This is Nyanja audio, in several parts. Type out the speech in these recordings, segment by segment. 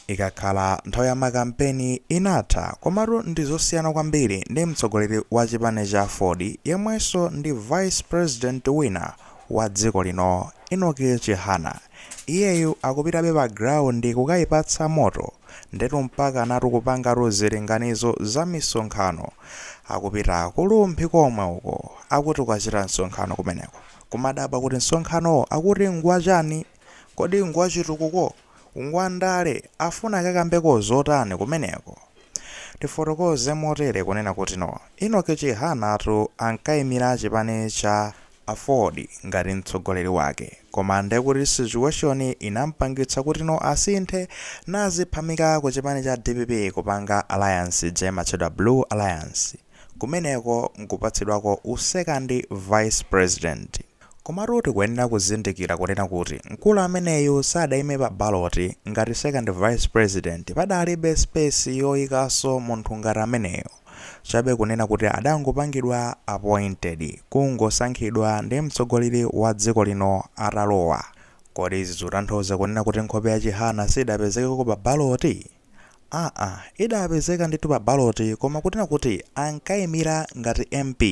Ikakhala nthawi ya makampeni inatha komatu ndi zosiyana kwambiri ndi mtsogoleri wa chipani cha aford yemwenso ndi vice president wina wa dziko lino Enock Chihana. Iyeyu akupitabe pa ground kukayipatsa moto ndetu mpaka anatu kupangatu zilinganizo za misonkhano akupita ku Rumphi komwe uko akuti kukachita msonkhano kumeneko. Kumadabwa kuti msonkhanowo akuti ngwachani? Kodi ngwachitukuko? Ngwandale? Afuna akakambeko zotani kumeneko? Tifotokoze motere kunena kuti no. Enock Chihana tu ankaimira chipani cha Aford ngati mtsogoleri wake. Koma ndekuti situation inampangitsa kuti no asinthe naziphamika kuchipani cha dpp kupanga alliance ija imatchedwa Blue Alliance. Kumeneko nkupatsidwako u second vice president. Komatu tikuyenera kuzindikira kunena kuti mkulu ameneyu sadaime pa ballot ngati second vice president padalibe space yoikanso munthu ngati ameneyo chabe kunena kuti adangopangidwa appointed kungosankhidwa ndi mtsogoleri wa dziko lino atalowa. Kodi izi zikutanthauza kunena kuti nkhope ya Chihana sidapezekeko pa ballot? aa idapezeka ndithu pa ballot koma kunena kuti ankaimira ngati mp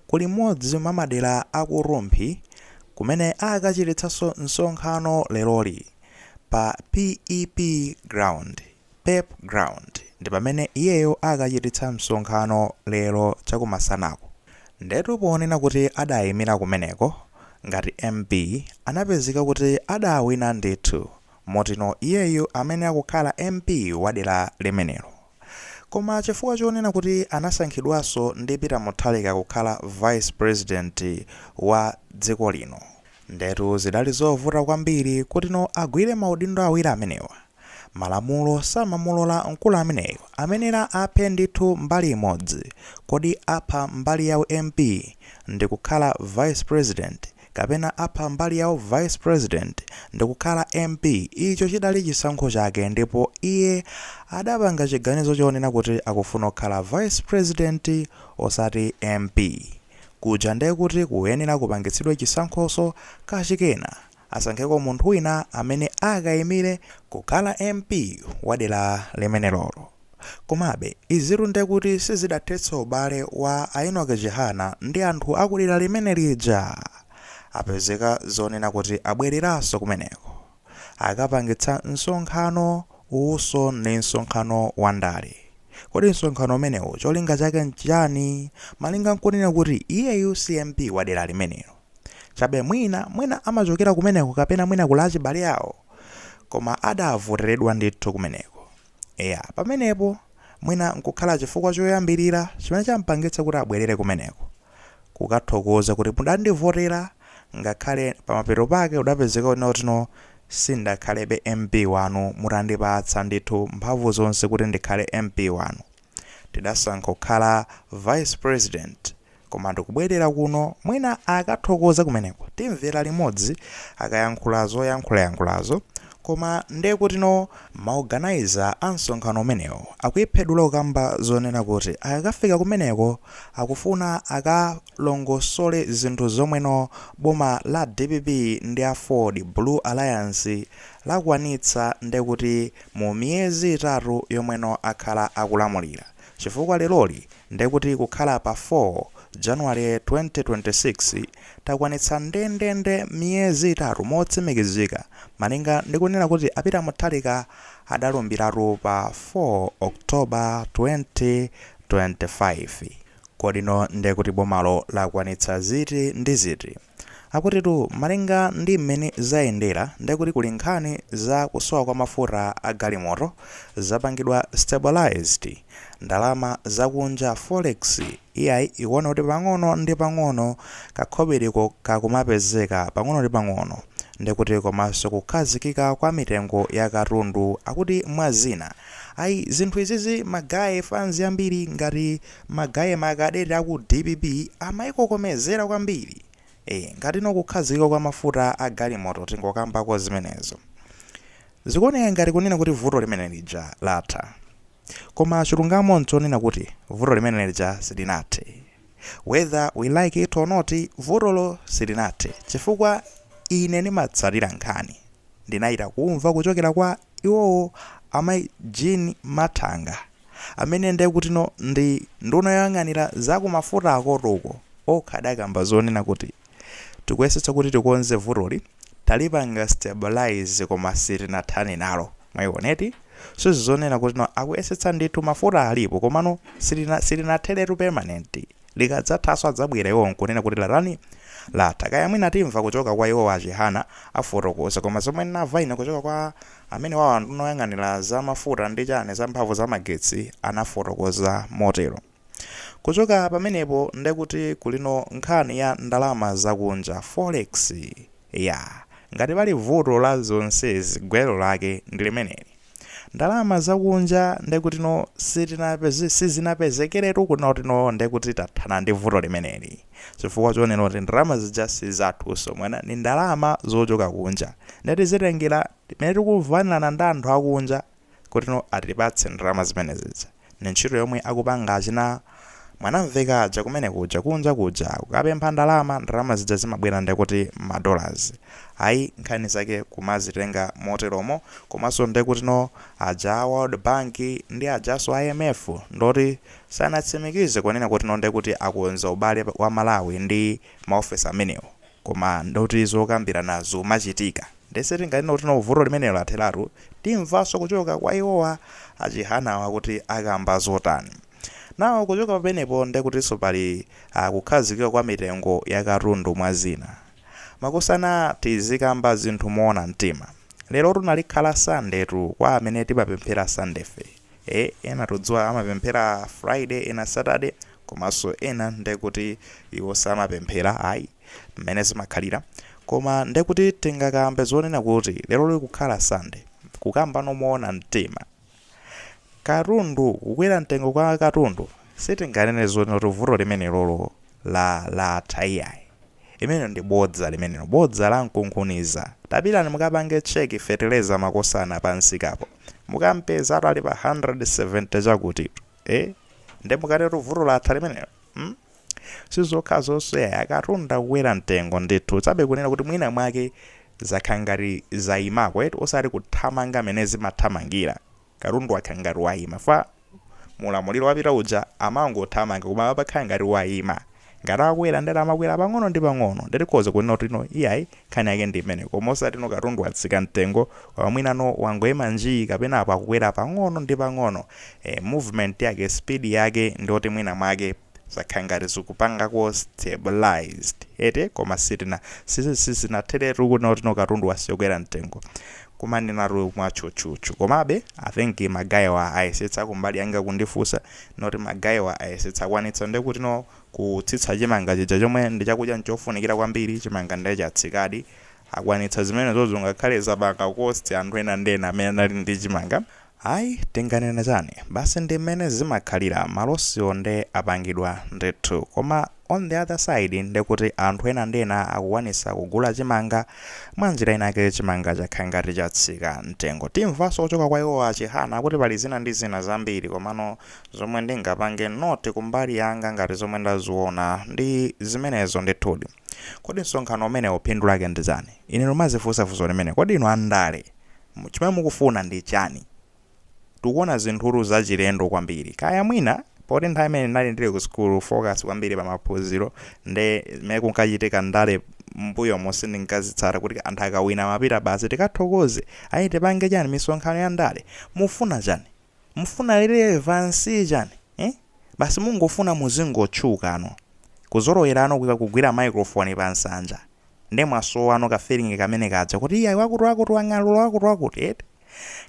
kuli mmodzi mwa madera a ku Rumphi kumene akachititsanso msonkhano leroli pa pep ground pep ground ndipamene iyeyo akachititsa msonkhano lero chakumasanaku ndetu ponena kuti adaimira kumeneko ngati mp anapezeka kuti adawina ndithu Motino iyeyu amayenera kukhala MP wa dera limenelo. Koma chifukwa chonena kuti anasankhidwanso ndi Peter Mutharika kukhala Vice President wa dziko lino. Ndetu zidali zovuta kwambiri kutino agwire maudindo awiri amenewa. Malamulo samamulola mkulu ameneyu amayenera aphe ndithu mbali imodzi. Kodi apha mbali ya u MP ndikukhala Vice President kapena apha mbali ya u Vice President ndikukhala MP, icho chidali chisankho chake ndipo iye adapanga chiganizo chonena kuti akufuna kukhala Vice President osati MP. Kuja nde kuti kuyenera kupangitsidwa chisankhoso kachikena, asankheko munthu wina amene akaimire kukhala MP wa dera limenelolo. Komabe, izitu nde kuti sizidathetsa ubale wa a Enock Chihana ndi anthu a ku dera limene lija! Apezeka zonena kuti abwereranso kumeneko. Akapangitsa msonkhano uwuso ndi msonkhano wa ndale. Kodi msonkhano umenewu cholinga chake n'chiyani? Malinga n'kunena kuti iyeyu si MP wa dera limenelo. Chabe mwina, mwina amachokera kumeneko kapena mwina kuli achibale awo? Koma adavoteredwa ndithu kumeneko. Eya, pamenepo mwina nkukhala chifukwa choyambirira chimene champangitsa kuti abwerere kumeneko. Kukathokoza kuti mudandivotera ngakhale pamapeto pake zidapezeka kunena kuti no sindakhalebe MP wanu mutandipatsa ndithu mphamvu zonse kuti ndikhale MP wanu. Tidasankha kukhala vice president koma ndikubwerera kuno mwina akathokoze kumeneko timvera limodzi akayankhula zoyankhulayankhulazo koma nde kutino ma organiser a msonkhano umenewo akuyiphedula kukamba zonena kuti akakafika kumeneko akufuna akalongosole zinthu zomweno boma la dpp ndi aford blue alliance lakwanitsa ndekuti mu miyezi itatu yomweno akhala akulamulira chifukwa leroli ndekuti kukhala pa 4 January 2026 takwanitsa ndendende miyezi itatu motsimikizika malinga ndi kunena kuti a Peter Mutharika adalumbiratu pa 4 October 2025. Kodino ndekuti bomalo lakwanitsa ziti ndi ziti? Akutitu malinga ndi mmene zayendera nde kuti kuli nkhani za kusowa kwa mafuta a galimoto zapangidwa stabilized. Ndalama za kunja, forex, iyayi ikuona kuti pang'ono ndi pang'ono kakhobiriko kakumapezeka pang'ono ndi pang'ono nde kuti komanso kukhazikika kwa mitengo ya katundu akuti mwa zina. Ayi zinthu izizi magaye fans ambiri ngati. Magaye ma cadet aku dpp amayikokomezera kwambiri ee ngati no kukhazikika kwa mafuta a galimoto tingokambako zimenezo zikuoneka ngati kunena kuti vuto limene lija latha koma chilungamo nchonena kuti vuto limene lija silinathe whether we like it or not vutolo silinathe chifukwa ine ndimatsatira nkhani ndinachita kumva kuchokera kwa iwowo amai jean mathanga amene ndekutino ndi nduna yoyang'anira za ku mafuta akotoko okha adakamba zonena kuti tikuyesetsa kuti tikonze vutoli, talipanga stabilise koma sitinathane nalo. Mwayiona eti? So zi zoona kutino akuyesetsa ndithu mafuta alipo komano sili silinatheretu permanent. Likadzathanso adzabwera iwowo nkunena kuti latani? Latha. Kaya mwina timva kuchoka kwa iwowa a Chihana afotokoza. Koma zomwe ndinamva ine kuchoka kwa amenewawa nduna yoyang'anira za mafuta ndi chani za mphamvu za magetsi anafotokoza motero. Kuchoka pamenepo ndekuti kulino nkhani ya ndalama za kunja, forex. Eya. Ngati pali vuto la zonsezi gwero lake ndi limeneli. Ndalama zakunja ndekutino sitinapeze sizinapezekeretu kunotino ndekuti tathana ndi vuto limeneli chifukwa chonena kuti ndalama zija sizathuso mwina ndi ndalama zochoka kunja nde tizitengera mmene tikumvanirana ndi anthu akunja kutino atipatse ndalama zimene zija. ndi ntchito yomwe akupanga achina Mwanamvekha aja kumene kuja kunja kuja kukapempha ndalama, ndalama zija zimabwera ndekuti ma dollars ayi nkhani zake kumazitenga moteromo komanso ndekutino aja a World Bank ndi ajanso a IMF ndoti sanatsimikize kunena kutino ndekuti akonza ubale wa Malawi ndi maofesi amenewo. koma ndoti zokambirana zikumachitika nde sitinganene kuti no vuto limenelo latheratu timvanso kuchoka kwa iwowa a Chihanawa kuti akamba zotani. Now kuchoka pamenepo ndekutinso pali a kukhazikika kwa mitengo ya katundu mwa zina. Makosana tizikamba zinthu moona mtima. Lerotu nalikhala Sunday tu kwa amene timapemphera Sunday'fe. Eeh ena tikudziwa amapemphera friday ena saturday komanso ena ndekuti iwo samapemphera ayi mmene zimakhalira koma ndekuti tingakambe zonena kuti lero likukhala sunday kukambano moona mtima katundu kukwera mtengo kwa katundu sitinganene zonena kuti vuto limenelolo la latha iyayi Limenelo ndi bodza limenelo bodza la nkunkhuniza. Tapitani mukapange check fetereza makosana pa msikapo. Mukampezatu ali pa 170 chakutitu. Eh? Nde mukatetu vuto latha limenelo? Hmm? Sizokhazonso yayi akatundu akukwera mtengo ndithu. Chabe kunena kuti mwina mwake zakhala ngati zayimako eti osati kuthamanga mmene zimathamangira. Katundu wakhala ngati wayima chifukwa mu ulamuliro wapita uja amangothamanga koma apa pakhala ngati wayima. Ngati akwera ndati amakwera pang'ono ndi pang'ono ndati tikhoza kunena kuti no iyayi nkhani yake ndi imeneyo koma osati no katundu watsika mtengo koma mwina no wangoyima njii kapena apa akukwera pang'ono ndi pang'ono eh movement yake speed yake ndiyoti mwina mwake zakhala ngati zikupangako stabilized eti koma sitina sizi sizinatheretu kunena kutino katundu wasiya kukwera mtengo kumanenatu mwatchutchutchu komabe i think magayiwa ayesetsa kumbali yanga kundifunsa noti magayiwa ayesetsa akwanitsa nde kuti no kutsitsa chimanga chija chomwe ndi chakudya chofunikira kwambiri chimanga nde chatsikadi akwanitsa zimenezozo ngakhale zapanga cost anthu ena ndi ena amene anali ndi chimanga Ayi tinganena chani? Basi ndi mmene zimakhalira, malosiwo nde apangidwa ndithu. Koma on the other side nde kuti anthu ena ndi ena akukwanisa kugula chimanga, mwa njira inayake chimanga chakhala ngati chatsika mtengo. Timvanso kuchoka kwa iwowa a Chihana kuti pali zina ndi zina zambiri komano zomwe ndingapange note kumbali yanga ngati zomwe ndaziona ndi zimenezo ndithudi. Kodi msonkhano umenewo phindu lake ndi chani? Ine ndumazifunsa funso limeneli. Kodi inu a ndale chimene mukufuna ndi chani? Tikuona zinthutu zachilendo kwambiri. Kaya mwina poti nthawi imene ndinali ndili ku sukulu focus kwambiri pa maphunziro nde zimene kunkachitika ndale mmbuyomu sindinkazitsata kuti anthu akawina amapita basi tikathokoze, ayi tipange chani misonkhano ya ndale. Mufuna chani? Mufuna relevancy chani eh? Basi mungofuna muzingotchukano. Kuzolowerano kuika kugwira microphone pa nsanja. Nde mwasowano ka feeling kamene kaja kuti iyayi wakuti wakuti wang'alura wakuti wakuti eti.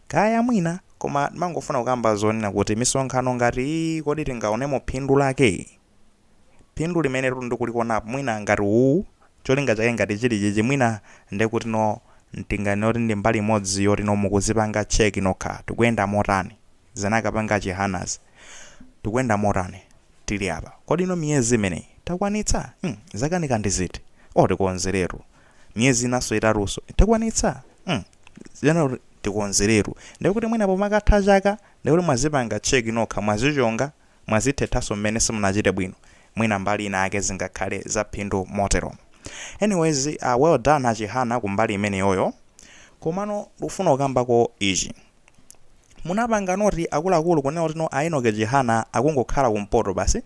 Kaya mwina koma ndimangofuna kukamba zonena kuti misonkhano ngati iyi kodi tingaonemo phindu lake? phindu limenetu ndikulikonapo mwina ngati u cholinga chake ngati chili chichi mwina ndekutino ntingani oti ndi mbali imodzi yotino mukuzipanga check nokha tikuyenda motani zinakapanga chihanas tikuyenda motani tili apa kodino miyezi imeneyi takwanitsa mm, zakanika ndi ziti o tikonzeretu miyezi inanso itatunso takwanitsa mm, zina kuti tikonzeretu ndekuti mwina pomakatha chaka ndekuti mwazipanga check nokha mwazichonga mwazithethanso mmene simunachite bwino mwina mbali inayake zingakhale zaphindu moteromo anyways uh, well done achihana kumbali imeneyoyo komano ndikufuna kukambako ichi munapanga note akuluakulu kunena kutino a Enoch Chihana akungokhala kumpoto basi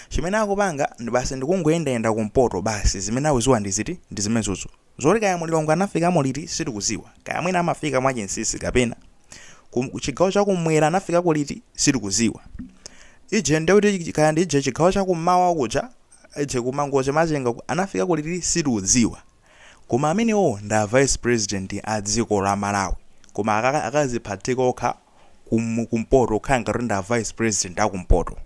chimene akupanga ndi basi ndikungoyendayenda kumpoto basi zimene akuziwa ndi ziti ndi zimenezozo Zoti kaya Mulilongwe anafikamo liti sitikuziwa, kaya mwina amafika mwachinsisi kapena Ku chigawo chakumwera anafikako liti sitikuziwa. Ije nde kuti kaya ndi ije chigawo chakummawa kuja ije ku Mangochi Machinga uku anafikako liti sitikudziwa. Koma amenewo ndi a vice president a dziko la Malawi. Koma aka akaziphatika okha Ku kumpoto kukhala ngati kuti ndi a vice president akumpoto.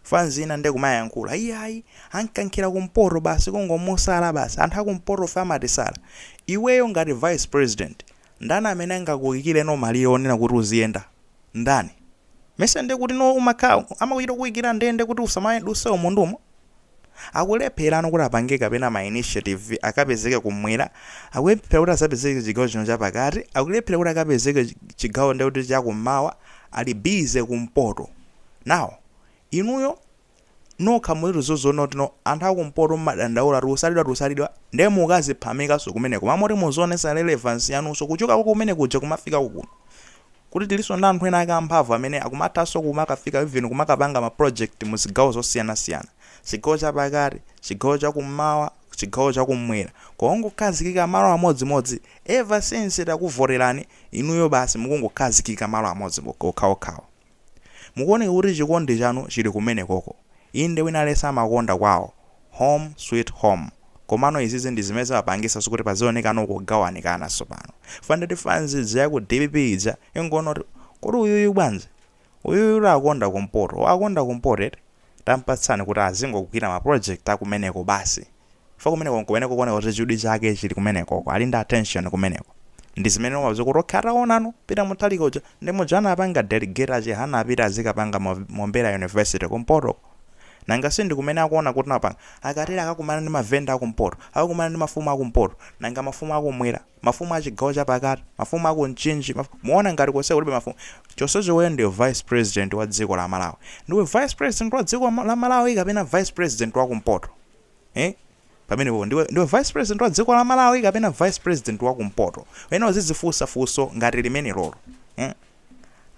fans ina nde kumayankhula iyayi amukankhira kumpoto basi kungomusala basi anthu akumpotofe amatisala iweyo ngati vice president ndani amene angakuikireno malire onena kuti uziyenda ndani mesa nde kutino umakhala amakuchita kukuikira ndende kuti usamayenduse umu ndi umu akulepherano kuti apange kapena ma initiative akapezeke kumwera akulephera kuti azapezeke chigawo chino chapakati akulephera kuti akapezeke chigawo ndekuti chakummawa ali busy kumpoto now inuyo nokha mulitu zoziona kuti no anthu akumpoto mumadandaula tikusalidwa tikusalidwa nde mukaziphamikanso kumeneko koma moti muzionesa relevance yanunso kuchokako kumene kuja kumafikako kuno kuti tilinso ndi anthu ena ake amphamvu amene akumathanso kumakafika even kumakapanga ma project muzigawo zosiyanasiyana chigawo chapakati chigawo chakummawa chigawo chakummwera koma ongokhazikika malo amodzimodzi ever since takuvoterani inuyo basi mukungokhazikika malo amodzi okhaokhawo. Mukuoneka kuti chikondi chanu chili kumenekoko. Inde wina aliyense amakonda kwawo. Home sweet home. Komano izizi ndi zimene zimapangisanso kuti pazionekanso kugawanikana tsopano. Chifukwa ndiye ti fans ija ya ku dpp ija ingoona kuti, kodi uyuyu bwanji? Uyuyu kuti akonda kumpoto. Akonda kumpoto eti? tampatsani kuti azingogwira ma project akumeneko basi chifukwa kumeneko nkumene kukuoneka kuti chidwi chake chili kumenekoko ali ndi attention kumeneko ndi zimene umapeza kuti okay ataonano Peter Mutharika uja ndi muja anapanga delegate a Chihana apita azikapanga Mombera university kumpotoko nanga si ndikumene akuona kuti napanga akatera akakumana ndi mavenda akumpoto akakumana ndi mafumu akumpoto nanga mafumu akumwera mafumu a chigawo chapakati, mafumu aku mchinji, maf, muona ngati konse kulibe mafumu? chonsecho iweyo ndiwe vice president wa dziko la malawi. ndiwe vice president wa dziko la malawi kapena vice president wa kumpoto? Eeh pamenepo ndiwe vice president wa dziko la malawi kapena vice president wa kumpoto? uyenera uzidzifunsa funso ngati limenelolo. Eeh.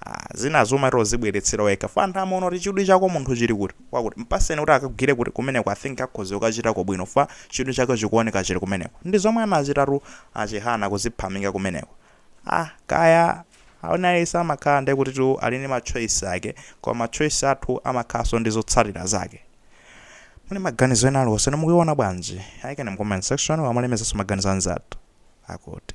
Ah, zinazo umati uzibweretsera wekha chifukwa anthu amaona kuti chidwi chako munthu chili kuti kwakuti mpaseni kuti akagwire kuti kumeneko i think akhoza kukachitako bwino chifukwa chidwi chake chikuoneka chili kumeneko ndi zomwe anachitatu a Chihana kuziphamika kumeneko ah kaya wina aliyense amakhala ndi kutitu ali ndi machoice ake koma machoice athu amakhalanso ndi zotsatira zake muli maganizo ena aliwonse mukuiona bwanji ayikeni mu comment section tumalemekezanso maganizo anzathu akuti